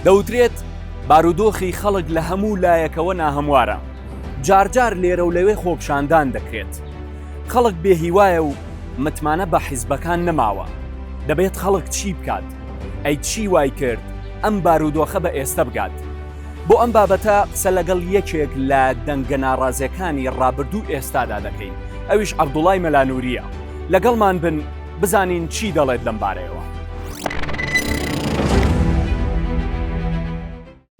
دەوترێت بارودۆخی خەڵک لە هەموو لایەکەوە ناهەموارە جارجار لێرە و لەوێ خۆپشاندان دەکرێت خەڵک بێهیوایە و متمانە بە حیزبەکان نەماوە دەبێت خەڵک چی بکات ئەی چی وای کرد ئەم بارودۆخە بە ئێستا بگات بۆ ئەم بابەتە قسە لەگەڵ یەکێک لە دەنگە ناڕازێکانی ڕابردوو ئێستادا دەکەین ئەویش عەبدوڵای مەلانوریە لەگەڵمان بن بزانین چی دەڵێت لەم بارەیەوە.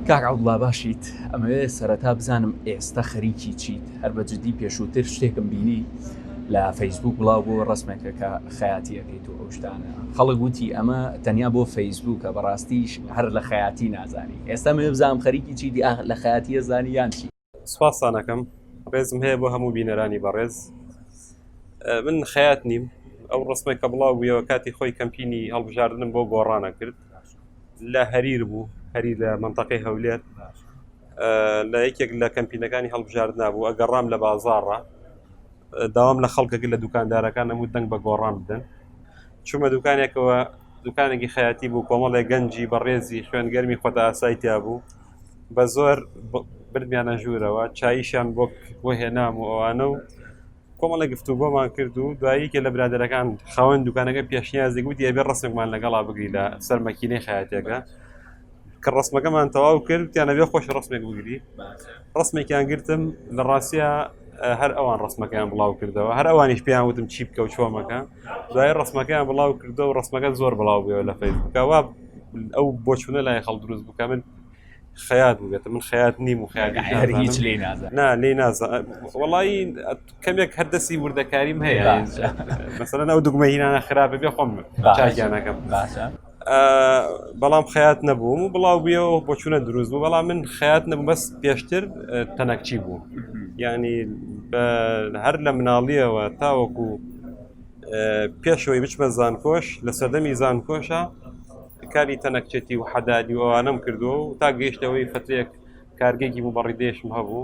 کاک عەبدوڵا باشیت ئەمەوێ سەرەتا بزانم ئێستە خەریکی چیت هەر بە جدی پێشووتر شتێکم بینی لە فەیسبوک بڵاو بۆ ڕسمێکە کە خەیاتیەکەیت و ئەو شتانە خەڵک وتی ئەمە تەنیا بۆ فەیسبوکە بەڕاستیش هەر لە خەیاتی نازانی ئێستا مەوێ بزانم خەریکی چیتی ئاخ لە خەیاتی ئەزانی یان چی. سوپاستان ئەکەم ڕێزم هەیە بۆ هەموو بینەرانی بەڕێز من خەیات نیم ئەو ڕسمێک کە بڵاو بوویەوە کاتی خۆی کەمپینی هەڵبژاردنم بۆ گۆڕانە کرد لە هەریر بوو هەری لە منتەقی هەولێر لە یەکێک لە کەمپینەکانی هەڵبژاردنا بوو ئەگەڕام لە بازاڕە داوام لە خەڵکەکە لە دوکاندارەکان نەموو دەنگ بە گۆڕان بدەن چوومە دوکانێکەوە دوکانێکی خەیاتی بوو کۆمەڵێک گەنجی بەڕێزی خوێن گەرمی خۆتە ئاسای تیا بوو بە زۆر بردمیانە ژوورەوە چاییشان بۆ بۆ هێنام و ئەوانە و کۆمەڵە گفتو گۆمان کرد و دواییکە لە برادەرەکان خاوەن دوکانەکە پێشنیازی گوتی ئەبێ ڕسممان لەگەڵا بگری لە سەر مەکینەی خەیاتەکە کە ڕسمەکەمان تەواو کرد وتیان ئەبێ خۆش ڕسمێک بگری ڕسمێکیان گرتم لە ڕاستە هەر ئەوان ڕسمەکەیان بڵاو کردەوە هەر ئەوانیش پێیان وتم چی بکە و چۆمەکە دوای ڕسمەکەیان بڵاو کردو و ڕسمەکە زۆر بڵاو بێەوە لە فەیسبووکەوە ئەو بۆچونە لای خەڵ دروست بکە من خەیات بووێتە من خەیات نیم و خیات هیچ لی نا لی نازە وڵی کەمێک هەردەسی وردەکاریم هەیە مەسەرەن ئەو دوگمە هینانە خراپە بێ خۆم چاگیانەکەم باشە بەڵام خەات نەبووم و بڵاو بوویەوە بۆچوونە دروست بوو بەڵام من خەات نەبوو بەس پێشتر تەنەکچی بوو ینی هەر لە مناڵیەوە تاوەکو پێشەوەی بچمە زانکۆش لە سەردەمی زانکۆشە کاری تەنەکچێتی و حەدادی ئەوانم کردو و تا گەیشتەوەی فترێک کارگێکی بوو بەڕیدێشم هەبوو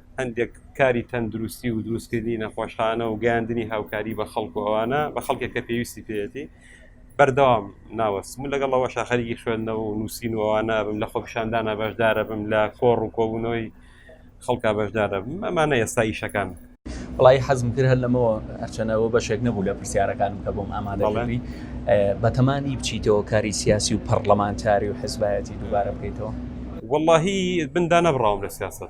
هەندێک کاری تەندروستی و دروستکردنی نەخۆشخانە و گەیاندنی هاوکاری بە خەڵک و ئەوانە بە خەڵکێک کە پێویستی پێێتی بەردەوام ناوەستم و لەگەڵ ئەوە شاخەریکی خوێندنەوە و نووسین و ئەوانە بم لە خۆپشاندانە بەشدارە بم لە کۆڕ و کۆبوونەوەی خەڵکە بەشدارە بم ئەمانە ئێستا ئیشەکان بڵی حەزم کرد هەر لەمەوە ئەرچەنەوە بەشێک نەبوو لە پرسیارەکانم کە بۆم ئامادەڵێنی بەتەمانی بچیتەوە کاری سیاسی و پەرلەمانتاری و حزبایەتی دووبارە بکەیتەوە واللهی بندا نەبڕاوم لە سیاست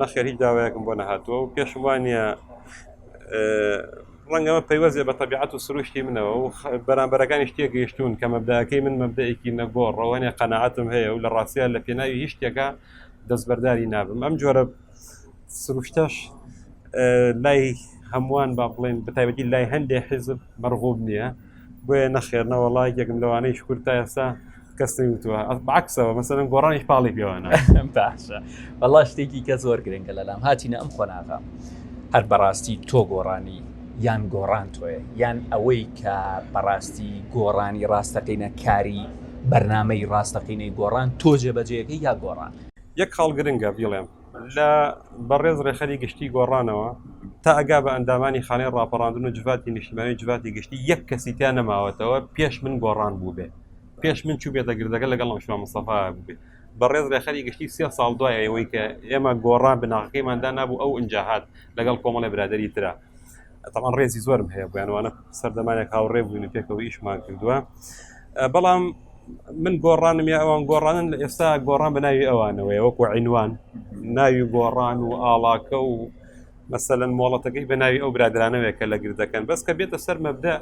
نەخێر هیچ داوایەکم بۆ نەهاتووە و پێشم وانە ڕەنگەمە پەیوەزێ بە تەبیعات و سروشتی منەوە و بەرامبەرەکانی شتێ گەیشتون کە مەبداەکەی من مەبدەیەکی نەگۆڕ ڕەوانێ قەنەعاتم هەیە و لە ڕاستە لە پێناوی هیچ شتێکە دەستبەرداری نابم ئەم جۆرە سروشتەش لای هەمووان با بڵێن بەتایبەتی لای هەندێک حزب مەرغوب نییە بۆیە نەخێر نەوەڵای یەکم لەوانەیە شکر تا ئێستا کەس نەوتوە بەعکسەوە مەسەرم گۆڕانی پاڵی پێوانە باشە بەڵا شتێکی کە زۆر گرنگە لەلام هاتیینە ئەم قۆناغە هەر بەڕاستی تۆ گۆڕانی یان گۆڕان تۆیە یان ئەوەی کە بەڕاستی گۆڕانی ڕاستەقینە کاری بەرنمەی ڕاستەقینەی گۆڕان تۆ جێبەجێەکە یا گۆڕان یەک خاڵ گرنگە بیڵێم لە بەڕێز ڕێخەری گشتی گۆڕانەوە تا ئەگا بە ئەندامانی خانەی ڕاپەڕاندن و جڤاتی نیشتمانی جڤاتی گشتی یەک کەسی تا نەماوەتەوە پێش من گۆڕان بوو بێ پێش من چوو بێتە گردەکە لەگەڵ ئەمشما مستەفا بێ بەڕێز ڕێخەری گشتی سێ ساڵ دوای ئەوەی کە ئێمە گۆڕان بناغەکەیماندا نبوو ئەو ئەنجاهات لەگەڵ کۆمەڵی برادری تررا تەمان ڕێزی زۆرم هەیە بۆیانوانە سەردەمانێک هاوڕێ بووین پێکەوە ئیشمان کردووە بەڵام من گۆڕانم یا ئەوان گۆڕانن لە ئێستا گۆڕان بە ناوی ئەوانەوەی وەکو عینوان ناوی گۆڕان و ئاڵاکە و مەسەەن مۆڵەتەکەی بە ناوی ئەو برادرانەوەیە کە لە گر دەکەن بەس کە بێتە سەر مەبدا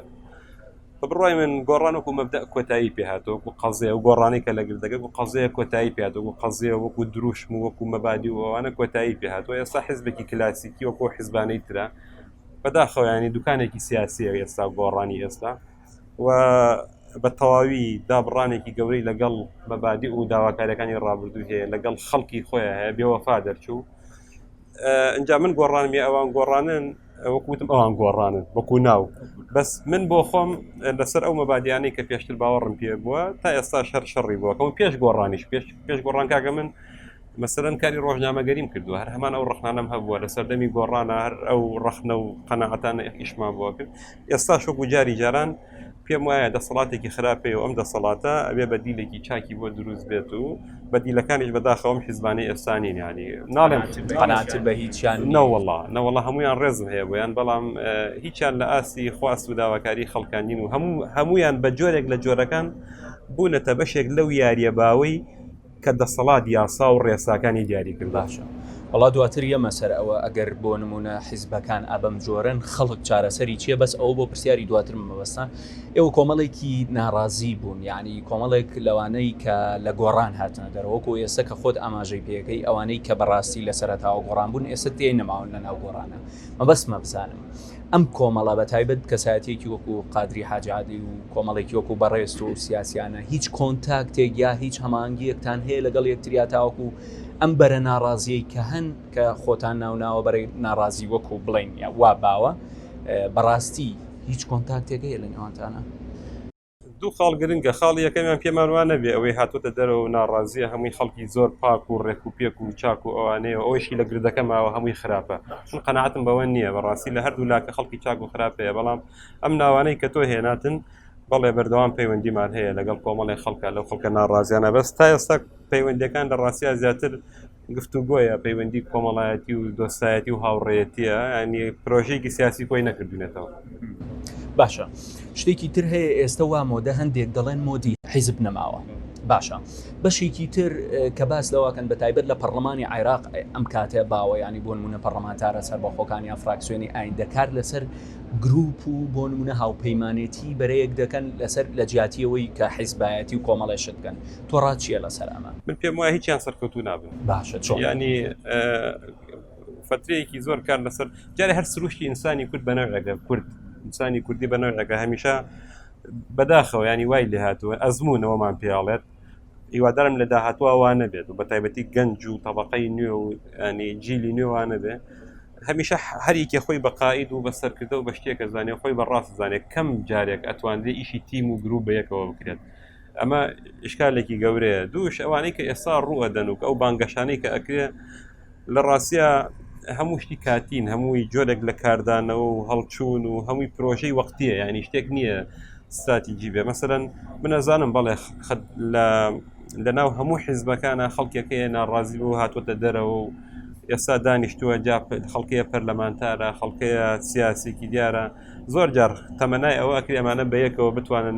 بە بڕای من گۆڕان وەکو مەبدا کۆتایی پێهاتەوە وەکو قەزێ و گۆڕانی کە لە گردەکە و قەزەیە کۆتایی پێات وەکو قەزێ وەکو دروشم و وەکو مەبادی و ئەوانە کۆتایی پێهاتەوە ئێستا حزبێکی کلاسیکی وەکو حزبانەی تررا بەداخەوە ینی دوکانێکی سیاسیە ئێستا گۆڕانی ئێستا و بە تەواوی دابڕانێکی گەورەی لەگەڵ مەبادی و داواکارەکانی ڕابردوو هەیە لەگەڵ خەڵکی خۆیان هەیە بێوەفا دەرچوو ئەجا من گۆڕانمی ئەوان گۆڕانن وەکوتم ئەوان گۆڕانن وەکو ناو بەس من بۆ خۆم لەسەر ئەو مەبادیانەی کە پێشتر باوەڕم پێ بووە تا ئێستا شەر شەڕی بووەکەم پێش گۆڕانیش پێش پێش گۆڕانکەکە من مەسەلەن کاری ڕۆژنامەگەریم کردووە هەر هەمان ئەو ڕخنانم هەبووە لە سەردەمی گۆڕانە هەر ئەو ڕخنە و قەنەعاتانە ئیشمان بۆ کرد ئێستا شوک و جاری جاران پێم وایە دەسەڵاتێکی خراپێ و ئەم دەسەڵاتە ئەبێ بەدیلێکی چاکی بۆ دروست بێت و بەدیلەکانیش بەداخەوەم حیزبانی ئێستانی نانی ناڵێن قەنات بە هیچیان نەوەڵا نەوەڵا هەمویان ڕێزم هەیە بۆیان بەڵام هیچیان لە ئاستی خواست و داواکاری خەڵکانین و هەموو هەمویان بە جۆرێک لە جۆرەکان بوونەتە بەشێک لەو یاریە باوەی کە دەسەڵات یاسا و ڕێساکانی دیاری کردووە. باشە وەڵا دواتر یەمە سەر ئەوە ئەگەر بۆ نمونە حیزبەکان ئابەم جۆرەن خەڵک چارەسەری چیە بەس ئەوە بۆ پرسیاری دواترم مەبەستە ئێوە کۆمەڵێکی ناڕازی بوون یانی کۆمەڵێک لەوانەی کە لە گۆڕان هاتنە دەرەوە وەکو ئێستا کە خۆت ئاماژەی پێکەی ئەوانەی کە بەڕاستی لە سەرەتاوە گۆڕان بوون ئێستا تێ نەماون لە ناو گۆڕانە مەبەستمە بزانم ئەم کۆمەڵە بە تایبەت کەسایەتیەکی وەکو قادری حاجی عادل و کۆمەڵێکی وەکو بەڕێزتۆ و سیاسیانە هیچ کۆنتاکتێک یا هیچ هەماهەنگیەکتان هەیە لەگەڵ یەکتریا تاوەکو ئەم بەرە ناڕازیەی کە هەن کە خۆتان ناوناوە بەرەی ناڕازی وەکو بڵێین وا باوە بەڕاستی هیچ کۆنتاکتێک هەیە لە نێوانتانا؟ دوو خاڵ گرنگە خاڵی یەکەمیان پێمان وا نەبێ ئەوەی هاتوتە دەرەوە و ناڕازیە هەمووی خەڵکی زۆر پاک و ڕێک و پێک و چاک و ئەوانەیە و ئەوشی لە گردەکە ماوە هەمووی خراپە من قەنەعاتم بەوە نییە بەڕاستی لە هەردوو لاکە خەڵکی چاک و خراپەیە بەڵام ئەم ناوانەی کە تۆ هێناتن بەڵێ بەردەوام پەیوەندیمان هەیە لەگەڵ کۆمەڵی خەڵکە لەو خەڵکە ناڕازیانە بەس تا ئێستا پەیوەندەکان لە ڕاستیا زیاتر گفتوگۆیە پەیوەندی کۆمەڵایەتی و دۆستایەتی و هاوڕێتیە ینی پرۆژێکی سیاسی کۆی نەکردونێتەوە باشە شتێکی تر هەیە ئێستا وا مۆدە هەندێک دەڵێن مۆدی حیزب نەماوە باشە بەشێکی تر کە باس لەواکەن بە تایبەت لە پەرلەمانی عێراق ئەم کاتێ باوە ینی بۆ نمونە پەرلەمانتارە سەر بەخۆکان یا فراکسیۆنی ئاین دەکار لەسەر گروپ و بۆ نمونە هاوپەیمانێتی بەرەیەک دەکەن لەسەر لە جیاتیەوەی کە حیزبایەتی و کۆمەڵێشت بکەن تۆ ڕات چیە لەسەر ئەمە من پێم وایە هیچیان سەرکەوتو نابن باشە چۆن ینی فترەیەکی زۆر کار لەسەر جارێ هەر سروشتی ئینسانی کورد بەنەوەگە کورد ئینسانی کوردی بەنەوەگە هەمیشە بەداخەوە ینی وای لێ هاتووە ئەزمونەوەمان پێڵێت هیوادارم لە داهاتوە وانە بێت و بە تایبەتی گەنج و طبقەی نوێ و ینی جیلی نوێوانە بێ هەمیشە هەریکێ خۆی بە قاعد و بە سەرکردە و بە شتێکە زانێ خۆی بە ڕاست زانێت کەم جارێک ئەتوانێت ئیشی تیم و گرروپ بەیەکەوە بکرێت ئەمە ئشکالێکی گەورەیە دووش ئەوانەی کە ئێستا ڕوئەدەن و کە ئەو بانگەشانەی کە ئەکرێ لە ڕاستە هەموو شتی کاتین هەمووی جۆرێک لە کاردانەوە و هەڵچوون و هەمووی پرۆژەی وەختیە یعنی شتێک نییە استراتیجی بێ مەمثلەن منەزانم بەڵێ لە لە ناو هەموو حیزبەکانە خەڵکێکەیە ناڕازی بۆ هاتوۆتە دەرەوە و ئێستا دانیشتووە جا خەڵکەیە پەرلەمانتارە خەڵکەیە سیاسێکی دیارە زۆر جار تەمەنای ئەوە ئەکری ئەمانە بەیەکەوە بتوانن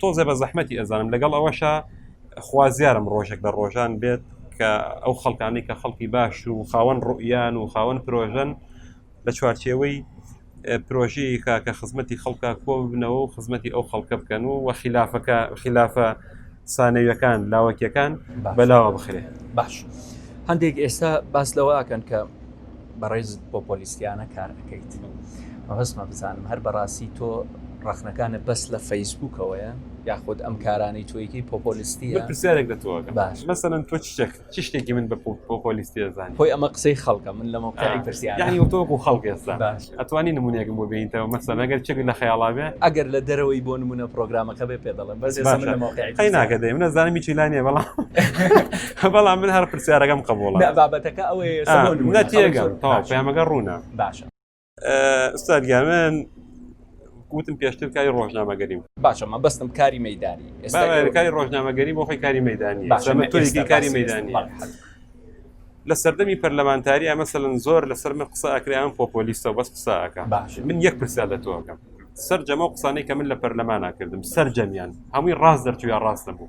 تۆزێ بە زەحمەتی ئەزانم لەگەڵ ئەوەشە خوازیارم ڕۆژێک لە ڕۆژان بێت کە ئەو خەڵکانی کە خەڵکی باش و خاوەن ڕوئیان و خاوەن پرۆژن لە چوارچێوەی پرۆژەیە کە خزمەتی خەڵکە کۆ ببنەوە و خزمەتی ئەو خەڵکە بکەن و وە خلافەکە خلافە سانەویەکان لاوەکیەکان بەلاوە بخرێ باش هەندێک ئێستا باس لەوەکەن کە بەڕێز پۆپۆلیستیانە کار ئەکەیت مەبەستمە بزانم هەر بەڕاستی تۆ ڕەخنەکانت بەس لە فەیسبوکەوەیە یاخود ئەم کارانەی تۆیەکەی پۆپۆلیستیە من پرسیارێک لە تۆ ئەکەم باش مەسەلەن تۆ چ شتێک چ شتێکی من بە پۆپۆلیستی ئەزانی خۆی ئەمە قسەی خەڵکە من لە مەوقعی پرسیارە یانی وەک تۆ وەکو خەڵک ئێستا باش ئەتوانی نموونەیەکم بۆ بێنیتەوە مەسەلەن ئەگەر چێک لە خەیاڵا بێ ئەگەر لە دەرەوەی بۆ نموونە پرۆگرامەکە بێ پێ دەڵێم بەس ئێستا من لە مەوقعی باشە قەی ناکە دەی من ئەزانم هیچی لا نییە بەڵام بەڵام من هەر پرسیارەکەم قبوڵە بابەتەکە ئەوەیە نەتێگەم پەیامەکە ڕوونە باشە ئستادگیان من وتم پێشتر کاری ڕۆژنامەگەری و باشە مە بەستم کاری مەدانی کاری ڕۆژنامەگەری بۆ خۆی کاری مەدانی تۆی کاری مەدانی لە سەردەمی پەرلەمانتاری ئەمە سەلەن زۆر لەسەر من قسە ئەکریان پۆپۆلیستە بەس قساکە باش من یەک پرسیار لە تۆکەم سەر جەمە قسانەی کە من لە پەرلەمانە کردم سەر جەمیان هەمووی ڕاست دەرچووە ڕاستە بوو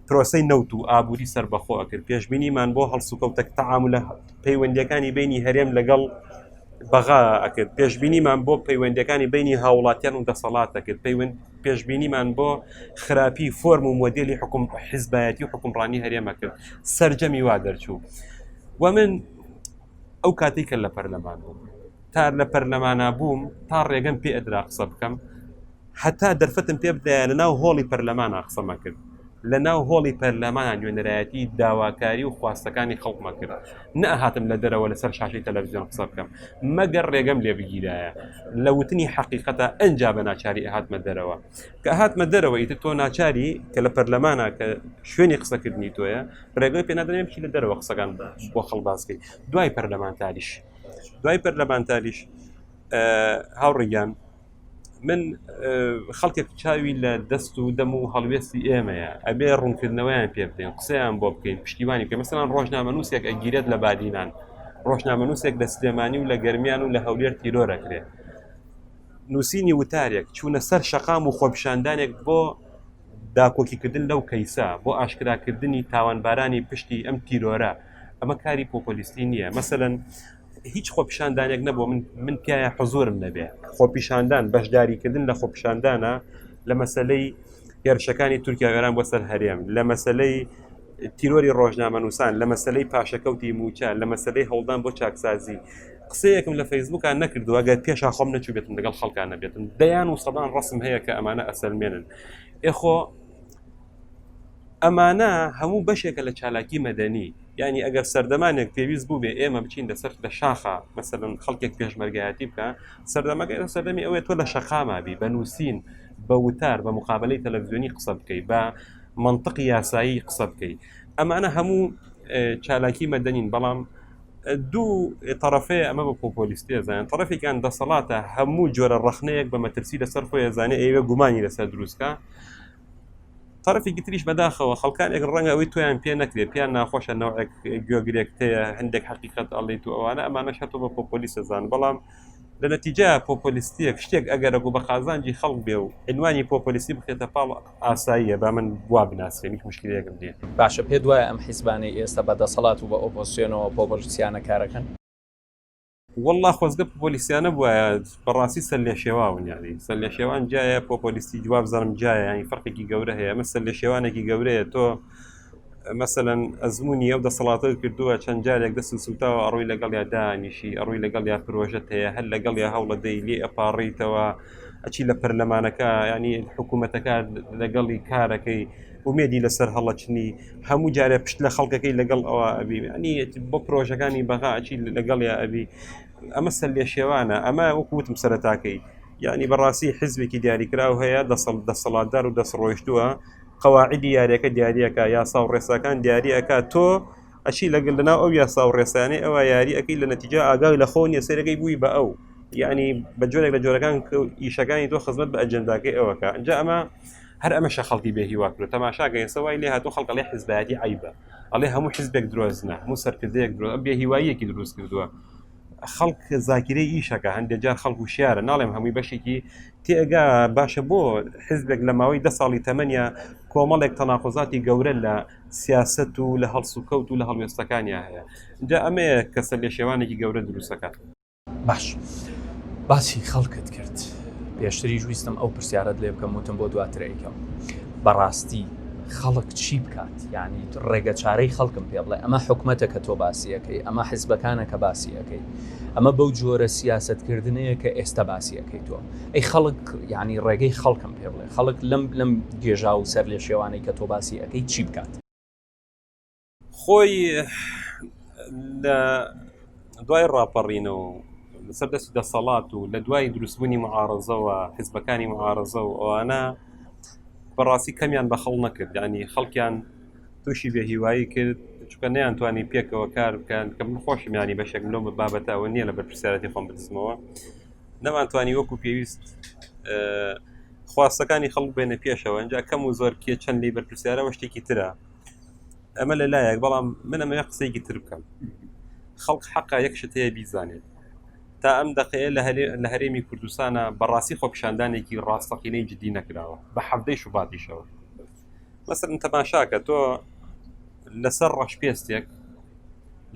پرۆسەی نەوت و ئابووری سربەخۆ ئەکرد پێشببینیمان بۆ هەڵسوکەوتە تەعااملە پەیوەندەکانی بینی هەرێم لەگەڵ بەغا ئەکرد پێشببینیمان بۆ پەیوەندەکانی بینی هاوڵاتیان و دەسەڵات دەکرد پەیوەند پێشببینیمان بۆ خراپی فۆرم و مۆدیلی حکوم حیزبایەتی و حکومڕانی هەرێمە کرد سرجەمی وا دەرچوو و من ئەو کاتێکە لە پەرلەمان بوو تا لە پەرلەمانا بووم تا ڕێگەم پێ ئەدرا قسە بکەم هەتا دەرفەتم پێ بدایە لە ناو هۆڵی پەرلەمانە قسەمە کرد لە ناو هۆڵی پەرلەمانە نوێنەرایەتی داواکاری و خواستەکانی خەڵکمە کرد نەهاتم لە دەرەوە لەسەر شاشی تەلەڤزیۆن قسە بکەم مەگەر ڕێگەم لێ بگیرایە لە وتنی حقیقەتە ئەجا بە ناچاری هاتمە دەرەوە کە هاتمە دەرەوە ئیتر تۆ ناچاری کە لە پەرلەمانە کە شوێنی قسەکردنی تۆیە ڕێگەی پێ نادرێن بچی لە دەرەوە قسەکان بۆ خەڵباسکەی دوای پەرلەمانتاریش دوای پەرلەمانتاریش هاوڕێ گیان من خەڵکێک چاوی لە دەست و دەم و هەڵوێستی ئێمەیە ئەبێ ڕوونکردنەوەیان پێ بدەین قسەیان بۆ بکەین پشتیوانی پێ مەسەان ڕۆژنامەنووسێک ئەگیرێت لە بادینان ڕۆژنامەنووسێک لە سلێمانی و لە گەرمیان و لە هەولێر تیرۆرەکرێت نووسینی وتارێک چوونە سەر شەقام و خۆپشاندانێک بۆ داکۆکیکردن لەو کەیسە بۆ ئاشکراکردنی تاوانبارانی پشتی ئەم تیرۆرە ئەمە کاری پۆپۆلیستی نییە مەسەەن هیچ خۆپیشاندانێک نەبوو من من پیاە حزۆرم نەبێ خۆپیشاندان بەشداریکردن لە خۆپیشاندانە لە مەسلەی هێرشەکانی تورکیا گەران بۆ سەر هەرێم لە مەسلەی تیرۆری ڕۆژنامەنووسان لە مەسلەی پاشەکەوتی موچە لە مەسلەی هەوڵدان بۆ چاکسازی قسەیەکم لە فەیسبوکان نەکردو ئەگەر پێشا خۆم نەچوبێتم لەگەڵ خەڵکان نەبێتم دەیان و سەدان ڕسم هەیە کە ئەمانە ئەسەلمێنن ئێخۆ ئەمانە هەموو بەشێکە لە چالاکی مەدەنی یعنی ئەگەر سەردەمانێک پێویست بوو بێ ئێمە بچین لەسەر لە شاخە مەسەن خەڵکێک پێشمەرگایەتی بکە سەردەمەکە ئێرە سەردەمی ئەوێت تۆ لە شەقامابی بە نووسین بە وتار بە مقابلەی تەلەڤزیۆنی قسە بکەی بە منطق یاسایی قسە بکەی ئەمانە هەموو چالاکی مەدەنین بەڵام دوو طرفەیە ئەمە بە پۆپۆلیستی زانان طرفێکان دەسەڵاتە هەموو جۆرە ڕخنەیەک بە مەترسی لەسەر خۆی زانێ ئێوە گومانی لەسەر دروستکە تەرەفێکی تریش بەداخەوە خەڵکانێک ڕەنگە ئەوەی تۆیان پێ نەکرێت پێیان ناخۆشە نەوەک گوێگرێک هەیە هەندێک حقیقت ئەڵیت و ئەوانە ئەمانە شەتۆ بە پۆپۆلی سەزان بەڵام لە نەتیجە پۆپۆلیستیەک شتێک ئەگەرەگو بە قازانجی خەڵک بێ و عنوانی پۆپۆلیستی بخێتە پاڵ ئاساییە با من وا بناسیێنی مشکلەکەم دێت باشە پێ دوایە ئەم حیزبانەی ئێستا بە دەسەڵات و بە ئۆپۆسیۆنەوە پۆپۆلیسیانە کارەکەن واللە خۆزگە پۆلیسیانە بواە بەڕاستی سەر لێ شێواون یاری سەر لە شێوان جایە پۆپۆلیستی جواب زەرم جایە ینی فەرقێکی گەورە هەیە مە سەر لە شێوانێکی گەورەیە تۆ مەسەەن ئەزمموی ئەو دەسەڵاتە کردووە چەند جارێک دەست و سوتاوە ئەڕووی لەگەڵ یا دانیشی ئەڕووی لەگەڵ یا پرۆژەت هەیە هەر لەگەڵ یا هەوڵە دەی لێ ئەپاڕیتەوە ئەچی لە پەرلەمانەکە ینی حکوومەتەکە لەگەڵی کارەکەی ئومێدی لەسەر هەڵەچنی هەموو جارێ پشت لە خەڵکەکەی لەگەڵ ئەوە ئەبی ئەنی بۆ پرۆژەکانی بەغا ئەچی لەگەڵ یا ئەبی ئەمە سەر لێ شێوانە ئەمە وەکوتم سەرتاکەی یعنی بەڕاستی حزبێکی دیاریکراو هەیە دەسەڵ دەسەڵاتدار و دەست ڕۆیشتووە قەواعدی یاریەکە دیارریەکە یاسا و ڕێساکان دیارریەکە تۆ ئەشی لەگەل لەناو ئەو یاسا و ڕێسانەی ئەوە یاریەکەی لە نەتیجا ئاگای لە خۆ نیە سێرەکەی بووی بە ئەو یعنی بە جۆرێک لە جۆرەکان ئیشەکانی تۆ خزمەت بە ئەجنداکەی ئەوەکە ئەجا ئەمە هەر ئەمەشە خەڵکی بێ هیوا کرد تەماشاکە ئێستا وای لێ هاتو خەڵک ئەڵێ حزبایەتی عیبە ئەڵێ هەموو حزبێک درۆزنە هەموو سەرکردەیەک درۆ بێ هیواییەکی دروست کردووە خەڵک زاکیرەی ئیشەکە هەندێک جار خەڵک و شیارە ناڵێم هەمووی بەشێکی تێگا باشە بۆ حزبێک لە ماوەی ده ساڵی تەمەنیا کۆمەڵێک تەناقۆزاتی گەورە لە سیاست و لە هەڵسوکەوت و لە هەڵوێستەکانیان هەیە جا ئەمەیە کەسە لێ شێوانێکی گەورە دروستەکات باش باسی خەڵکت کرد پێشتریش ویستم ئەو پرسیارت لێ بکەم وتم بۆ دواترەیکەم بەڕاستی خەڵک چی بکات یعنی ڕێگە چارەی خەڵکم پێ بڵێ ئەمە حکومەتە کە تۆ باسیەکەی ئەمە حزبەکانە کە باسیەکەی ئەمە بەو جۆرە سیاستکردنەیە کە ئێستا باسیەکەی تۆ ئەی خەڵک یعنی ڕێگەی خەڵکم پێ بڵێ خەڵک لەم لەم گێژا و سەر لێ شێوانەی کە تۆ باسی ئەەکەی چی بکات خۆی لە دوای ڕاپەڕینەوە لەسەر دەستی دەسەڵات و لە دوای دروستبوونی معارزەوە حزبەکانی معارزە و ئەوانە بەڕاستی کەمیان بە خەڵ نەکرد ینی خەڵکیان تووشی بێ هیوایی کرد چکە نیان توانی پێکەوە کار بکەن کە من خۆشم ینی بەشێک لۆم بە بابەتەوە نییە لە بەرپسیارەتی خۆم بدزمەوە نەمانتوانی وەکو پێویست خواستەکانی خەڵک بێنە پێشەوە ئەجا کەم و زۆر کێ چەند لی بەرپسیارەوە شتێکی ترە ئەمە لە لایەک بەڵام من ئەمەیە قسەیەکی تر بکەم خەڵک حەقا یەک شت هەیە بیزانێت تا ئەم دقەیە لە هەرێمی کوردستانە بەڕاستی خۆپیشاندانێکی ڕاستەقینەی جددی نەکراوە بە حەفتەی شوباتیشەوە مەسەر تەماشاکە تۆ لەسەر ڕەشپێستێک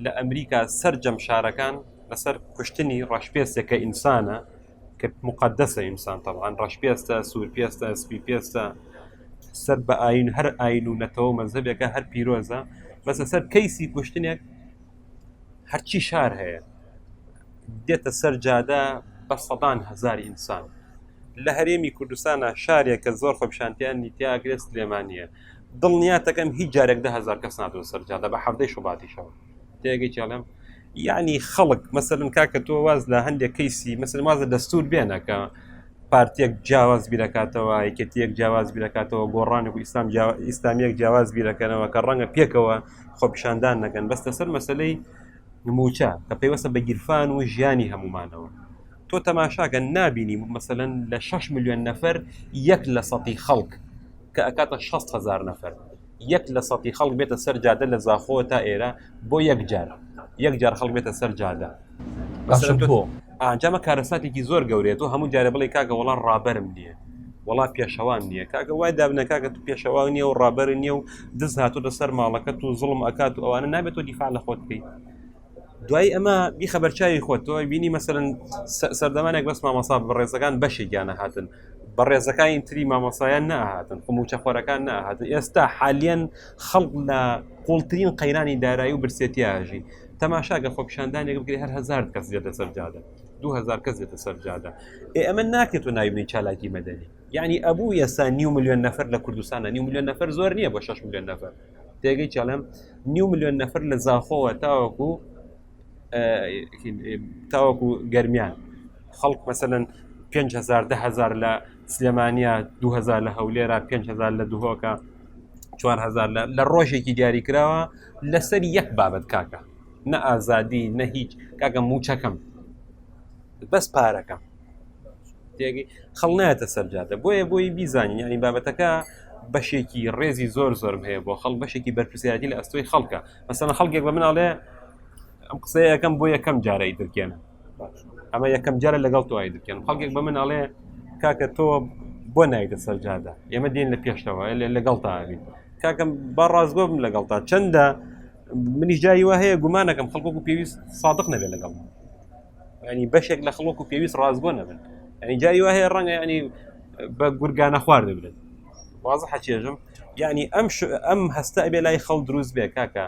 لە ئەمریکا سەررجەم شارەکان لەسەر کوشتنی ڕەشپێستێکە ئینسانە کە مقدسە ئینسان تەوان ڕەش پێستە سوور پێستە سپی پێستە سەر بە ئاین هەر ئاین و نەتەوە مەزەبێکە هەر پیرۆزە بەسە سەر کەیسی کوشتنێک هەرچی شار هەیە دێتە سەر جادە بە سەدان هزار ئینسان لە هەرێمی کوردستانە شارێک کە زۆر خۆپشانتیان نیتیاگرێت سلێمانە دڵنیاتەکەم هیچ جارێک دهزار کەس ناتۆ سەرجادە بە حەفتەی شوباتیشەوە تێگەیتی ئەڵێم یعنی خەڵک مەسەرن کاکە تۆ واز لە هەندێک کەیسی مەسەر وازە دەستور بێنە کە پارتێک جیاواز بیرەکاتەوە یەکێتیەک جیاواز بیرەکاتەوە گۆڕانێک و ئیسلام ئیسلامیەک جیاواز بیرەکەنەوە کە ڕەنگە پێکەوە خۆپیشاندان نەکەن بەس لەسەر مەسلەی موچە کە پێیوەسە بە گیرفان و ژیانی هەمومانەوە تۆ تەماشاکە نبینی مەسەن لە 6 میلیۆن نەفەر یەک لە سەتی خەڵک کە ئەکاتە 6 هزار نەفەر یەک لە سەتی خەڵک بێتە سەر جادە لە زاخۆ تا ئێرە بۆ یەک جار یەک جار خەڵک بێتە سەر جادە ئەنجامە کارەساتێکی زۆر گەورێت و هەموو جارە بڵێ کاکە وڵا ڕابرم نییە وڵا پێشەوان نییە کاکە وای دابنە کاکە تو پێشەوان نیە و ڕابەر نیە و دز هاتۆتە سەر ماڵەکەت و زڵم ئەکات و ئەوانە نابێت و دیفاع لە خۆت بکەیت دوای ئەمە بیخە بەرچاوی خۆت تۆ بینی مەسەرن سەردەمانێک بەس مامەسا بەڕێزەکان بەشێکیانە هاتن بەڕێزەکانی تری مامەسایان نەهاتن خموچە خۆرەکان نەهاتن ئێستا حالیان خەڵق لە قوڵترین قەیرانی دارایی و برسێتیاژی تەماشاگە خۆپیشاندانێک بگری هەر هزار کەس دێتە سەرجادە دوهزار کەس دێتە سەرجادە ئێ ئەمە ناکرێت و ناوی چالاکی مەدەنی یعنی ئەبوو یەسا نیو میلیۆن نەفر لە کوردستانە نیو میلیۆن نەفر زۆر نییە بە 6 میلیۆن نەفر تێگەی چڵێم نیو میلیۆن نەفر لە زاخۆوە تاوەکو تاوەکو گەرمیان خەڵک مەسەن 5هزار دههزار لە سلێمانیا 2000 لە هەولێرا 5هزار لە دهۆکە 4هزار لە ڕۆژێکی دیاری کراوە لەسەر یەک بابەت کاکە نە ئازادی نە هیچ کاکە موچەکەم بەس پارەکەم تێگەی خەڵ نایەتە سەرجادە بۆیە بۆی بیزانین ینی بابەتەکە بەشێکی ڕێزی زۆر زۆرم هەیە بۆ خەڵ بەشێکی بەرپسیاتی لە ئەستۆی خەڵکە مەسەنە خەڵکێک بە مناڵێ ئەم قسەیە یەکەم بۆ یەکەم جارەی درکێنە ئەمە یەکەم جارە لەگەڵ تۆی درکێن خەڵکێک بە مناڵێ کاکە تۆ بۆ نایتە سەرجادە ئێمە دێن لە پێشتەوە لەگەڵ تاوین کاکەم با ڕاستگۆ بم لەگەڵ تا چەندە منیش جایی وە هەیە گومانەکەم خەڵکۆک و پێویست سادق نەبێت لەگەڵ ینی بەشێک لە خڵک و پێویست ڕازگۆ نەبن ئەنی جای وایە ڕەنگە ینی بە گورگانە خوارد ببرن وازە حەچێژم ینی ئەم ئەم هەستە ئەبێ لای خەڵ دروست بێ کاکە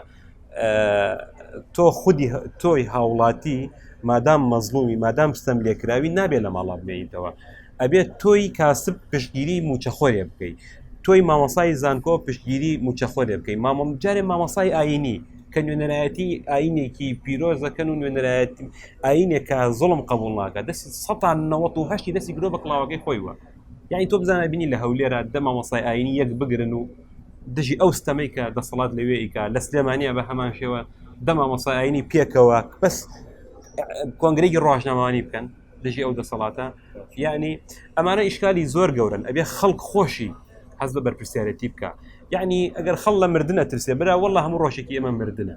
تۆ خودی تۆی هاوڵاتی مادام مەزلومی مادام ستەم لێکراوی نابێت لە ماڵا بمێنیتەوە ئەبێت تۆی کاسب پشتگیری موچەخۆرێ بکەیت تۆی مامەسای زانکۆ پشتگیری موچەخۆرێ بکەیت مامەڵ جارێ مامەسای ئاینی کە نوێنەرایەتی ئاینێکی پیرۆز دەکەن و نوێنەرایەتی ئاینێکە زڵم قبول ناکە دەستی سەان نەوەت و هەشتی دەستی گرۆ بە کڵاوەکەی خۆی وە یعنی تۆ بزانە بینی لە هەولێرە دەما مەسای ئاینی یەک بگرن و دژی ئەو ستەمەی کە دەسەڵات لەوێ ئیکا لە سلێمانە بە هەمان شێوە دەما مەسای ئاینی پێکەوە بەس کۆنگرێکی ڕۆژنامەوانی بکەن دژی ئەو دەسەڵاتە یعنی ئەمانە ئیشکالی زۆر گەورن ئەبێ خەڵک خۆشی حەز بە بەرپرسیارەتی بکە یعنی ئەگەر خەڵ لە مردە ترسێ برا والله هەموو ڕۆژێکی ئێمە مردە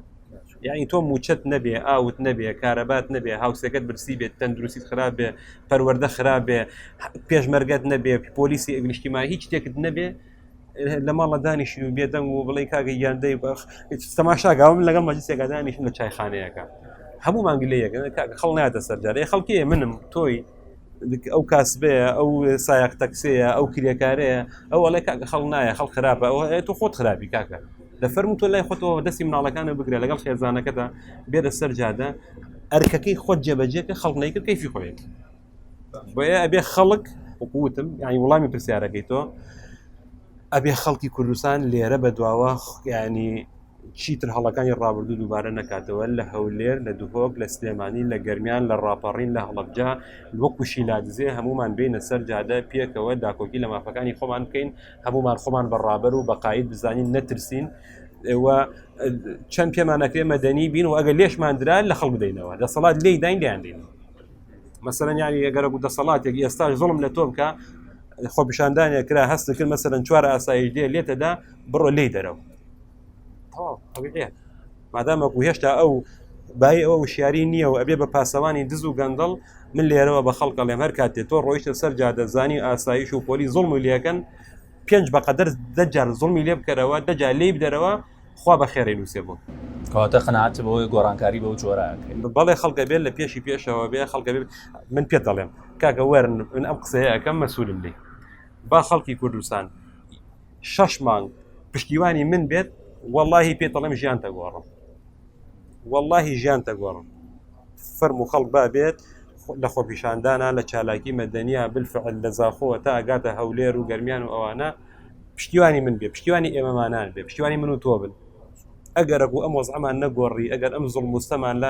یعنی تۆ موچەت نەبێ ئاوت نەبێ کارەبات نەبێ هاوسەکەت برسی بێت تەندروسیت خراپ بێ پەروەەردە خراپ بێ پێشمەرگەت نەبێ پۆلیسی ئەگەشتیما هیچ شتێکت نەبێ لە ماڵە دانیشین و بێدەنگ و بڵێ کاگە یاندەی بەخ تەماشاگاوم لەگەڵ مەجلسێکا دانیشن لە چایخانەیەەکە هەموو مانگلەیەەکە خەڵ ناتە سەرجارێ خەڵکێ منم تۆی ئەو کاسبەیە ئەو سایق تەکسەیە ئەو کرێکارەیە ئەو ئەڵێ کاکە خەڵ نایە خەڵ خراپە ئەو تو خۆت خراپی کاکە لە فەرم تۆ لای خۆتەوە دەستی مناڵەکانە بگرە لەگەڵ خێزانەکەدا بێرە سەر جادە ئەرکەکەی خۆت جێبەجێکە خەڵنەیکە کەفی خۆێت بۆیە ئەبێ خەڵک وەکوتم ینی وڵامی پرسیارەکەی تۆ ئەبێ خەڵکی کوردستان لێرە بە دواوە ینی چیتر هەڵەکانی ڕابردوو دووبارە نکاتەوە لە هەولێر لە دهۆک لە سلێمانی لە گەرمیان لە ڕاپەڕین لە هەڵبجا وەکوشی لادزێ هەمومان بینە سەر جادە پێکەوە داکۆکی لە مافەکانی خۆمان بکەین هەمومان خۆمان بە ڕابەر و بەقاید بزانین نەترسین چەند پێمانەکرێ مەدەنی بین و ئەگە لێشماندرا لە خەڵ بدەینەوە دەسەڵات لێداین دەیاندین مەسەرەن یانی ئەگەر بوو دەسەڵاتێک ئێستا زڵم لە تۆم کە خۆپیشاندانێ کرا هەست کرد مەسەرەن چوار ئاسایی دێ لێتەدا بڕۆ لی دەرەوە مادامەکو هێشتا ئەو بای ئەو شیاری نییە و ئەبێ بە پاسەوانی دز و گەندەڵ من لێرەوە بە خەڵکە لێم هەر کاتێ تۆ ڕۆیشتە سەر جادەزانی ئاسایش و پۆلی زڵم و لەکەن پێنج بەقەدەر دەجار زڵمی لێ بکەرەوە دەجا لی بدەرەوە خوا بە خێرەی نووسێ بۆ. کەواتە قەناعەتت بەوەیە گۆڕانکاری بەو جۆرە ئەکرێ؟ بەڵێ خەڵک ئەبێت لە پێشی پێشەوە بێ خەڵک ئەبێت من پێت دەڵێم کاکە وەرن من ئەم قسەیە ئەکەم مەسوولم لێ با خەڵکی کوردستان شەش مانگ پشتیوانی من بێت واللهی پێت دەڵێم ژیان تەگۆڕم واللهی ژیان تەگۆڕم فەرم و خەڵک با بێت لە خۆپیشاندانە لە چالاکی مەدەنیا بالفعل لە زاخۆوە تا ئەگاتە هەولێر و گەرمیان و ئەوانە پشتیوانی من بێ پشتیوانی ئێمەمانان بێ پشتیوانی من و تۆ بن ئەگەر بوو ئەم وەزعمان نەگۆڕی ئەگەر ئەم زڵ مستەمان لا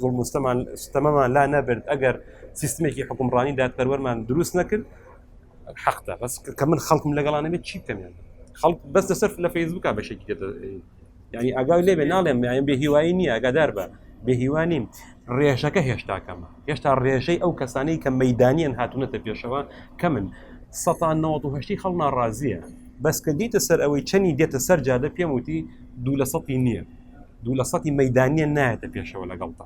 زڵ مستەمان ستەمەمان لا نەبرد ئەگەر سیستمێکی حکومڕانی دادپەروەرمان دروست نەکرد حەقدا بەس کە من خەڵکم لەگەڵانەبێت چی بکەمیان خەڵک بەس لەسەر لە فەیسبوکە بەشێکی یعنی ئەگا لێ بێ ناڵێم یان بێ هیوایی نییە ئەگادار بە بێ هیوانیم ڕێژەکە هێشتا کەمە هێشتا ڕێژەی ئەو کەسانەی کە مەدانیان هاتوونەتە پێشەوە کە من سەتان نەوەهشتی خەڵ ناڕازیە بەس کە دیتە سەر ئەوەی چەنی دێتە سەر جادە پێم وتی دوو لە سەی نییە دوو لە سەی مەدانیان نایەتە پێشەوە لەگەڵتا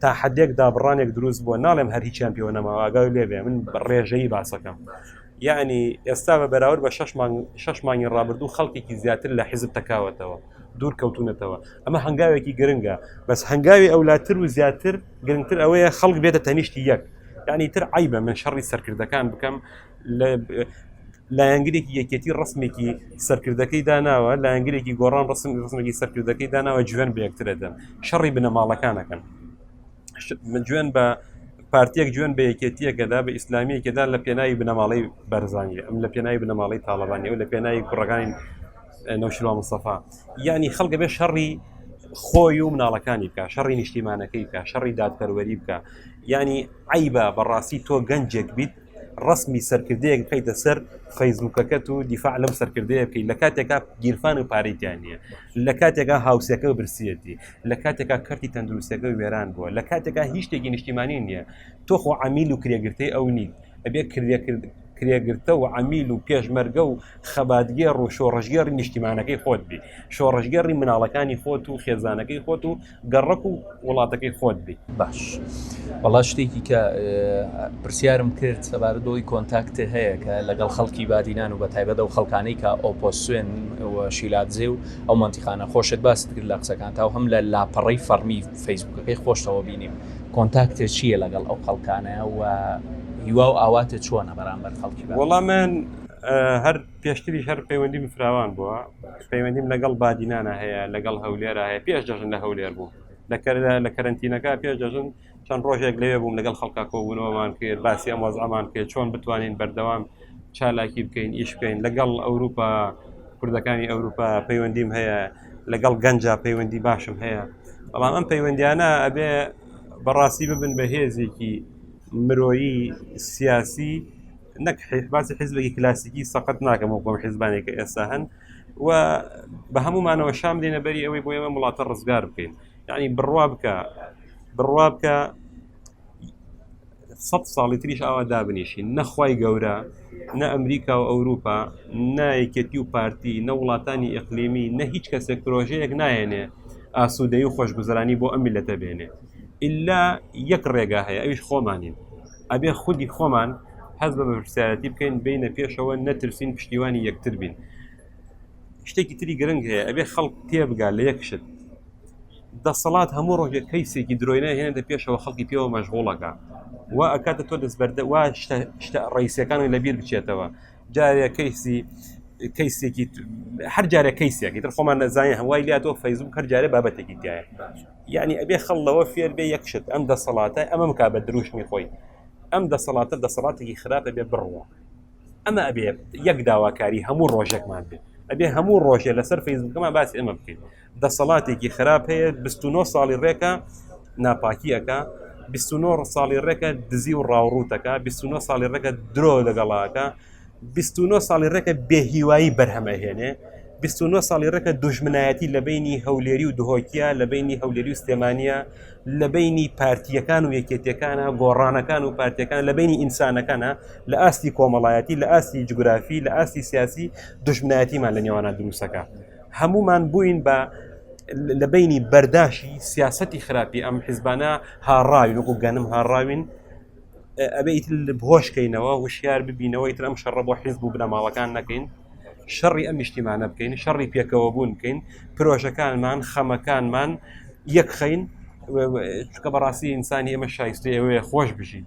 تا حدێک دابڕانێک دروست بووە ناڵێم هەر هیچیان پێوە نەماوە ئاگاوی لێبێ من ڕێژەی باسەکەم یعنی ئێستا بە بەراورد بە شش مانگی ڕابردوو خەڵکێکی زیاتر لە حیزب تکاوەتەوە دوور کەوتونەتەوە ئەمە هەنگاوێکی گرنگە بەس هەنگاوی ئەولاتر و زیاتر گرنگتر ئەوەیە خەڵک بێتە تەنیشتی یەک یعنی تر عیبە من شەڕی سەرکردەکان بکەم لایەنگرێکی یەکێتی ڕسمێکی سەرکردەکەی داناوە لایەنگرێکی گۆڕان ڕسم ڕسمێکی سەرکردەکەی داناوە جوێن بەکترەدەن شەڕی بنەماڵەکانەکەن جوێن بە پارتیەک جوێن بە یەکێتیەکەدا بە ئیسلامیەکەدا لە پێناوی بنەماڵی بەرزانانی ئەم لە پێناوی بنەماڵی تاالبانی و لە پێناوی کوڕەکانی نەوشوا مستەفا یعنی خەڵگە بێ شەڕی خۆی و مناڵەکانی بکە شەڕی نیشتیمانەکەی بکە شەڕی دادپەروەری بکە ینی عیبە بەڕاستی تۆ گەنجێک بیت ڕەسمی سەرکردەیەک بخیتە سەر فەیسبوکەکەت و دیفاع لەم سەرکردەیە بکەیت لە کاتێکا گیرفان و پارەیان نییە لە کاتێکا هاوسەکە برسیەتی لە کاتێکا کەرتی تەندروستەکە وێران بووە لە کاتێکا هیچ شتێکی نیشتیمانی نییە تۆخۆ عمیل و کرێگرتەی ئەو نیت ئەبێ کرێکرد کرێگرتە و عمیل و پێشمەرگە و خەباتگێڕ و شۆڕژگەڕی نیشتیمانەکەی خۆت بی شۆڕژگەڕی مناڵەکانی خۆت و خێزانەکەی خۆت و گەڕەک و وڵاتەکەی خۆت بیت باش بەڵا شتێکی کە پرسیارم کرد سەبارە دۆی کۆنتاکتە هەیە کە لەگەڵ خەڵکی بادینان و بە تایبەت و خەڵکانەی کە ئۆپۆسوێن شیلادزێ و ئەو منتیخانە خۆشت باست کرد لە قسەکان تا هەم لە لاپەڕی فەرمی فەیسبوکەکەی خۆشتەوە بینیم کۆنتاکتە چییە لەگەڵ ئەو خەڵکانە و هیوا و ئاواتە چۆنە بەرامبەر خەڵکی وەڵامان هەر پێشتریش هەر پەیوەندیم فراوان بووە پەیوەندیم لەگەڵ بادینانە هەیە لەگەڵ هەولێرا هەیە پێش دەژن لە هەولێر بوو لە کەرنتینەکە پێش دەژن چەند ڕۆژێک لەوێ بووم لەگەڵ خەڵکا کۆبوونەوەمان کرد باسی ئەم وەزعمان کرد چۆن بتوانین بەردەوام چالاکی بکەین ئیش بکەین لەگەڵ ئەوروپا کوردەکانی ئەوروپا پەیوەندیم هەیە لەگەڵ گەنجا پەیوەندی باشم هەیە بەڵام ئەم پەیوەندیانە ئەبێ بەڕاستی ببن بە هێزێکی مرۆیی سیاسی نەک باسی حیزبێکی کلاسیکی سەقەت ناکەم و بۆم حیزبانێک کە ئێستا هەن و بە هەمومانەوە شام دێنە بەری ئەوەی بۆ ئێمە وڵاتە ڕزگار بکەین یعنی بڕوا بکە بڕوا بکە سە ساڵی تریش ئاوا دابنیشین نەخوای گەورە نە ئەمریکا و ئەوروپا نایکێتی و پارتی نە وڵاتانی ئەقلیمی نە هیچ کەسێک پرۆژەیەک نایەنێ ئاسوودەی و خۆشگوزرانی بۆ ئەم میلەتە بێنێ ئللا یەک ڕێگا هەیە ئەویش خۆمانین ئەبێ خودی خۆمان حەز بە بەپرسیارەتی بکەین بینە پێشەوە نەترسین پشتیوانی یەکتر بین شتێکی تری گرنگ هەیە ئەبێ خەڵک تێبگا لە یەک شت دەسەڵات هەموو ڕۆژێک کەیسێکی درۆینە هێنێتە پێشەوە خەڵکی پێوە مەژغوڵەکە و ئەکاتە تۆ دەستبەردە وا شتە ڕیسەکانی لەبیر بچێتەوە جارێ کەیسی کەیسێکی هەر جارە کەیسێکی تر خۆمان نەزانانی هەوای لات تۆ فەیزبوو هەر جارە بابەتێکی تایە یعنی ئەبێ خەڵەوە فێر بێ یەکشت ئەم دەسەڵاتە ئەمەم کا بە دروشمی خۆی ئەم دەسەڵاتە دەسەڵاتێکی خراپە بێ بڕوە ئەمە ئەبێ یەک داواکاری هەموو ڕۆژێکمان بێت ئەبێ هەموو ڕۆژێ لەسەر فەیزبووکەمان باسی ئەمە بکەین دەسەڵاتێکی خراپ هەیە 29 ساڵی ڕێکە ناپاکی ئەەکە 29 ساڵی ڕێکە دزی و ڕاوڕوتەکە 29 ساڵی ڕێکە درۆ لەگەڵاکە 29 ساڵی ڕێکە بێهیوایی بەرهەمەهێنێ 29 ساڵی ڕێکە دوژمنایەتی لە بینی هەولێری و دهۆکیە لە بینی هەولێری و سلێمانە لە بینی پارتیەکان و یەکێتەکانە گۆڕانەکان و پارتیەکان لە بینی ئینسانەکانە لە ئاستی کۆمەڵایەتی لە ئاستی جوگرافی لە ئاستی سیاسی دژمنایەتیمان لە نێوانە دروستەکە هەموومان بووین بە لە بینی بەرداشی سیاستی خراپی ئەم حیزبانە هاڕاوین وەکو گەنم هاڕاوین ئەبێ ئیتر بهۆشکەینەوە وشیار ببینەوە ئیتر ئەم شەڕە بۆ حیزب و بنەماڵەکان نەکەین شەڕی ئەم نیشتیمانە بکەین شەڕی پێکەوە بوون بکەین پرۆژەکانمان خەمەکانمان یەکخین چکە بەڕاستی ئینسانی ئەمە شایستی ئەوەیە خۆش بژیت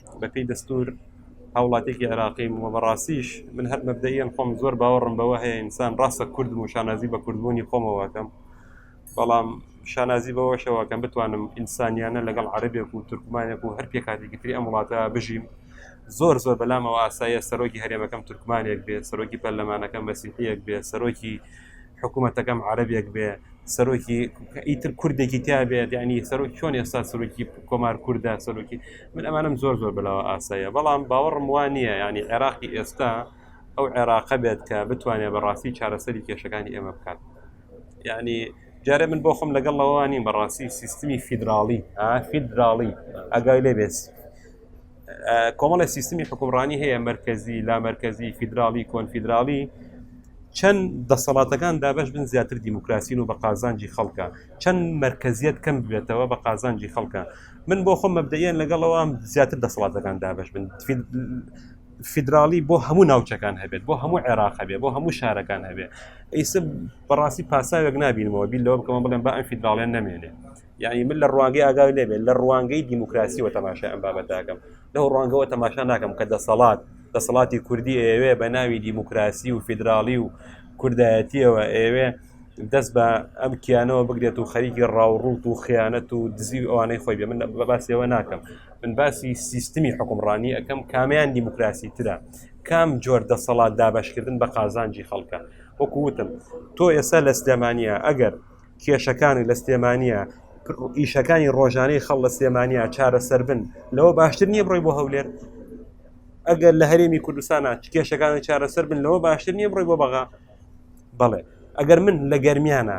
بەپێی دەستور هاوڵاتێکی عێراقیم و بەڕاستیش من هەر مەبدەیان خۆم زۆر باوەڕم بەوە هەیە ئینسان ڕاستە کوردم و شانازی بە کوردبوونی خۆمەوەکەم بەڵام شانازی بەوەشەوەکەم بتوانم ئینسانیانە لەگەڵ عربێک و تورکمانێک و هەر پێکاتێکی تری ئەم وڵاتە بژیم زۆر زۆر بەلامەوە ئاسایە سەرۆکی هەرێمەکەم تورکمانێک بێ سەرۆکی پەرلەمانەکەم مەسیحەک بێ سەرۆکی حکومەتەکەم عربێک بێ سەرۆکی ئیتر کوردێکی تیا بێت ینی سەرۆک چۆن ئێستا سەرۆکی کۆمار کووردا سەرۆکی من ئەمانم زۆر زۆر بەلاوە ئاسایە بەڵام باوەڕم وان نییە ینی عێراقی ئێستا ئەو عێراقە بێت کە بتوانێت بەڕاستی چارەسەری کێشەکانی ئێمە بکات ینی جارێ من بۆ خۆم لەگەڵ لەوانی بەڕاستی سیستمی فیدراڵی فیدراڵی ئەگای لێ بێت کۆمەڵی سیستمی حکومڕانی هەیە مرکزی لا مرکزی فیدراالی کۆنفیدراالی چەند دەسەڵاتەکان دابش بن زیاتر دیموکراسین و بە قازانجی خەڵکە چەند مرکزیت کەم بێتەوە بە قازانجی خەڵکە من بۆ خۆم مەبدەیان لەگەڵەوە زیاتر دەسەڵاتەکان دابش بن فیدراالی بۆ هەموو ناوچەکان هەبێت بۆ هەموو عێراق هەبێت بۆ هەموو شارەکان هەبێت ئیسە بەڕاستی پاساوێک نبینەوە بیر لەوە بکەمە بڵێن بە ئەم فیدراالیان نامێنێ یعنی من لە ڕوانگەی ئاگاوی لێبێت لە ڕوانگەی دیموکراسیەوە تەماشا ئەم بابەتەکەم لەو ڕوانگەوە تەماشا ناکەم کە دەسەڵات دەسەڵاتی کوردی ئەوێ بە ناوی دیموکراسی و فیدراالی و کوردایەتیەوە ئەوێ دەست بە ئەم کیانەوە بگرێت و خەریکی ڕاوڕوت و خیانەت و دزی ئەوانەی خۆی بێ من بە باسیەوە ناکەم من باسی سیستمی حکومڕانی ئەەکەم کامیان دیموکراسی ترە کام جۆر دەسەڵات دابشکردن بە قازانجی خەڵکە وەکووتم تۆ ئێستا لە سلێمانە ئەگەر کێشەکانی لە سلێمانە ئیشەکانی ڕۆژانەی خەڵ لە سلێمانیا چارەسەر بن لەوە باشتر نییە بڕۆی بۆ هەولێر ئەگەر لە هەرێمی کوردستانە کێشەکانی چارەسەر بن لەوە باشتر نییە بڕۆی بۆ بەغا بەڵێ ئەگەر من لە گەرمیانە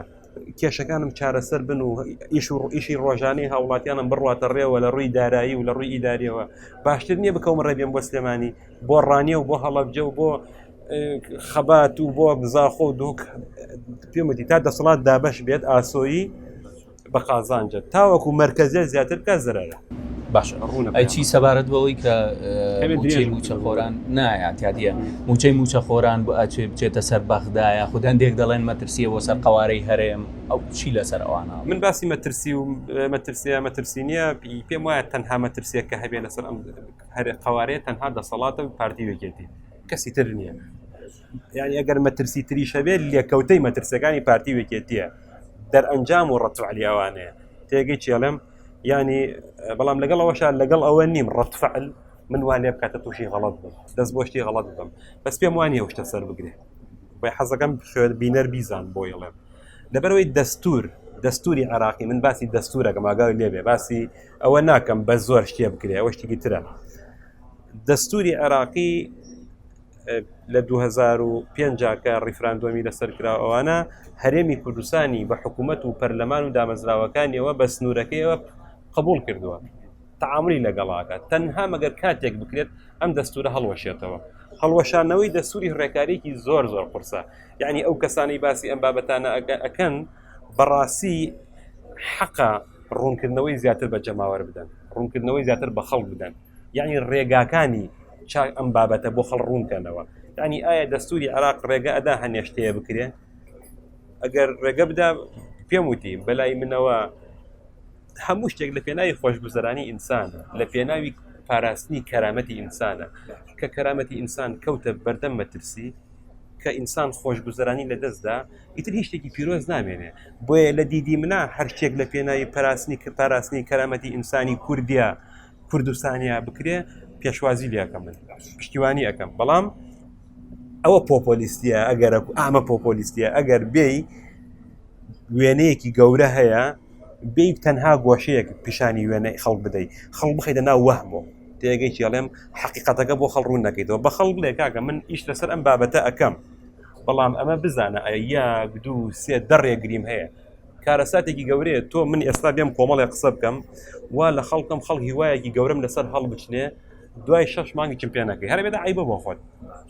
کێشەکانم چارەسەر بن و ئیش و ڕئیشی ڕۆژانەی هاوڵاتیانم بڕاتە ڕێوە لە ڕووی دارایی و لە ڕووی ئیداریەوە باشتر نییە بکەم ڕێبێن بۆ سلێمانی بۆ ڕانیە و بۆ هەڵەبجە و بۆ خەبات و بۆ زاخۆ و دوک پێمەتی تا دەسەڵات دابش بێت ئاسۆیی بە قازانجە تاوەکو مرکزیت زیاتر بکە زرەرە باشە ڕوونە ئەچی سەبارەت بەوەی کە موچەی موچە خۆران نایاتیادە موچەی موچە خۆران بۆ ئەچێ بچێتە سەر بەغدایە خود هەندێک دەڵێن مەترسیە بۆ سەر قوارەی هەرێم ئەو چی لەسەر ئەوانە من باسی مەترسی و مەترسیە مەترسی نییە پێم وایە تەنها مەترسیە کە هەبێ لەسەر ئەم هەرێ قوارەیە تەنها دەسەڵاتە پارتی وێکێتی کەسی تر نییە یعنی ئەگەر مەترسی تریش هەبێت لێکەوتەی مەترسەکانی پارتی وێکێتیە دەرئەنجام و ڕەتعلی ئەوانەیە تێگەی چێڵم ینی بەڵام لەگەڵ ئەوەشار لەگەڵ ئەوە نیم ڕەتفعل من وان لێ بکاتە تووشی غەڵت بم دەست بۆشتی غەڵت بم بەس پێم وانە شتە سەر بگرێ بە حەزەکەم خوێر بینەر بیزان بۆ یڵێم لەبەرەوەی دەستور دەستوری عراقی من باسی دەستورەکەم ئاگاوی لێبێ باسی ئەوە ناکەم بە زۆر شتێ بکرێ ئەوە شتێکی ترە دەستوری عێراقی لە 2005 کە ڕیفراندۆمی لەسەر کرا ئەوانە هەرێمی کوردستانی بە حکوومەت و پەرلەمان و دامەزراوەکانیەوە بە سنوورەکەیەوە قبول کردووە تعاملی لەگەڵاکە تەنها مەگەر کاتێک بکرێت ئەم دەستورە هەڵوەشێتەوە هەڵوەشانەوەی دەسووری ڕێکارێکی زۆر زۆر قرسە یعنی ئەو کەسانی باسی ئەم بابەتانە ئەەکەن بەڕاستی حەقە ڕوونکردنەوەی زیاتر بە جەماوەر بدەن ڕوونکردنەوەی زیاتر بە خەڵک بدەن یعنی ڕێگاکانی چاک ئەم بابەتە بۆ خەڵ ڕوونکەنەوە ینی ئایا دەستوری عراق ڕێگە ئەدا هەنێشتەیە بکرێن ئەگەر ڕێگە بدا پێم وتی بەلای منەوە هەموو شتێک لە پێناوی خۆشگوزەرانی ئینسان لە پێناوی پاراستنی کەرامەتی ئینسانە کە کەرامەتی ئینسان کەوتە بەردەم مەترسی کە ئینسان خۆشگوزەرانی لە دەستدا ئیتر هیچ شتێکی پیرۆز نامێنێ بۆیە لە دیدی منە هەر شتێک لە پێناوی پاراستنی کە پاراستنی کەرامەتی ئینسانی کوردیا کوردستانیا بکرێ پێشوازی لەکەم من پشتیوانی ئەەکەم بەڵام ئەوە پۆپۆلیستیە ئەگەر ئامە پۆپۆلیستیە ئەگەر بێی وێنەیەکی گەورە هەیە بی تەنها گۆشەیەک پیشانی وێنەی خەڵ بدەیت خەڵ بخیتە ناو وەهمۆ تێگەی چێڵێم حقیقەتەکە بۆ خەڵ ڕوون نەکەیتەوە بە خەڵ بڵێ کاکە من ئیش لەسەر ئەم بابەتە ئەەکەم بەڵام ئەمە بزانە ئەیا دوو سێ دەڕێگریم هەیە کارەساتێکی گەورەیە تۆ من ئێستا بێم کۆمەڵێ قسە بکەم وا لە خەڵکم خەڵ هیوایەکی گەورم لەسەر هەڵبچنێ دوای شەش مانگی چم پێ نەکەی هەربێت عیبە بۆ خۆت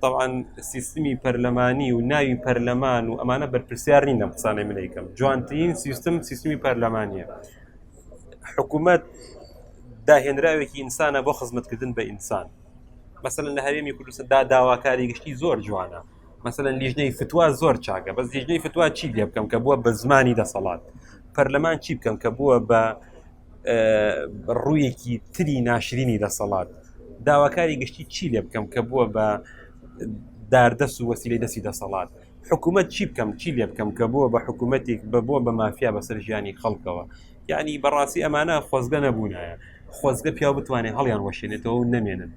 تاوان سیستمی پەرلەمانی و ناوی پەرلەمان و ئەمانە بەرپرسیار نین لەم قسانەی منیکەم جوانترین سیستم سیستمی پەرلەمانیە حکوومەت داهێنراوێکی ئینسانە بۆ خزمەتکردن بە ئینسان مەسەن لە هەرێمی کوردستاندا داواکاری گشتی زۆر جوانە مەسەن لیژنەی فتووا زۆر چاکە بەس لیژنەی فتووا چی لێ بکەم کە بووە بە زمانی دەسەڵات پەرلەمان چی بکەم کە بووە بە ڕوویەکی تری ناشرینی دەسەڵات داواکاری گشتی چی لێ بکەم کە بووە بە داردەست و وەسیلی دەستی دەسەڵات حکوومەت چی بکەم چی لێ بکەم کە بووە بە حکوومەتێک بە بووە بە مافیا بەسەر ژیانی خەڵکەوە یعنی بەڕاستی ئەمانە خۆزگە نەبوونایە خۆزگە پیا بتوانێت هەڵیان وەشێنێتەوە و نەمێنن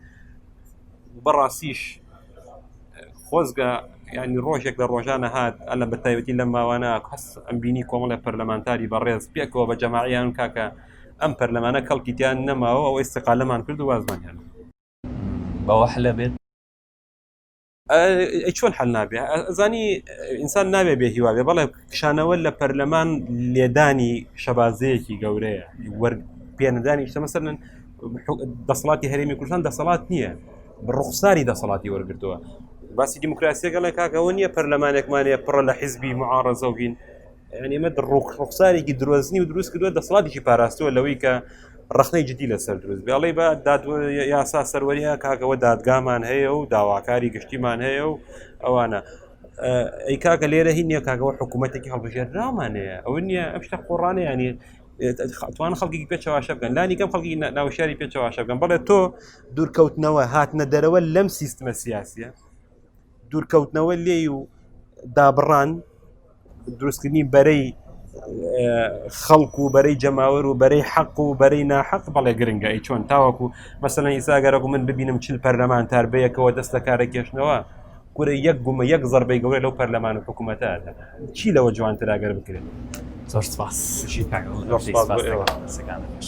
بەڕاستیش خۆزگە ینی ڕۆژێک لە ڕۆژانە هاات ئەلە بە تایبەتی لەم ماوانە کەس ئەم بینی کۆمەڵی پەرلەمانتاری بەڕێز پێکەوە بە جەماعیان کاکە ئەم پەرلەمانە کەڵکیتیان نەماوە ئەو ئێستقالەمان کرد و وازمانیان بەوە حلە بێت چۆن حل نابێ ئەزانی ئینسان ناوێ بێ هیواێ بەڵێ کشانەوە لە پەرلەمان لێدانی شەبازەیەکی گەورەیە وەرگ پێنەدانی شتە مەسەرن دەسەڵاتی هەرێمی کوردستان دەسەڵات نییە ڕوخساری دەسەڵاتی وەرگتووە باسی دیموکراسیەکەڵێ کاک ئەوە نییە پەرلەمانێکمانەیە پڕە لە حیزبی معاڕزە و بین ئەمە ڕوخ ڕوخسارێکی درۆزنی و دروست کردووە دەسڵاتێکی پاراستووە لەوەی کە ڕخنەی جدی لەسەر دروست بێڵی بە داد یاسا سەروەریە کاکەوە دادگامان هەیە و داواکاری گشتیمان هەیە و ئەوانە ئەی کاکە لێرە هی نییە کاکەوە حکوومەتێکی هەڵبژێرراومانەیە ئەو نییە ئەم شتە قۆڕانەیانی توان خەڵکی پێ چواشە بکەن لانی کەم خەڵکی ناوشاری پێ چواشە بکەن بەڵێ تۆ دوورکەوتنەوە هاتنە دەرەوە لەم سیستمە سیاسیە دوورکەوتنەوە لێ و دابڕان دروستکردنی بەرەی خەڵک و بەرەی جەماوەر و بەرەی حەق و بەرەی ناحەق بەڵێ گرنگە ئی چۆن تاوەکو مەسەن ئیساگەرەکو من ببینم چل پەرلەمانتار بەیەکەوە دەست لە کارە کێشنەوە کورە یەک گومە یەک زەربەی گەورە لەو پەرلەمان و حکوومەتە ئەدا چی لەوە جوانتر ئەگەر بکرێت زۆر سپاس شی کاک زۆر سپاس بۆ ئێوە. سەکانەش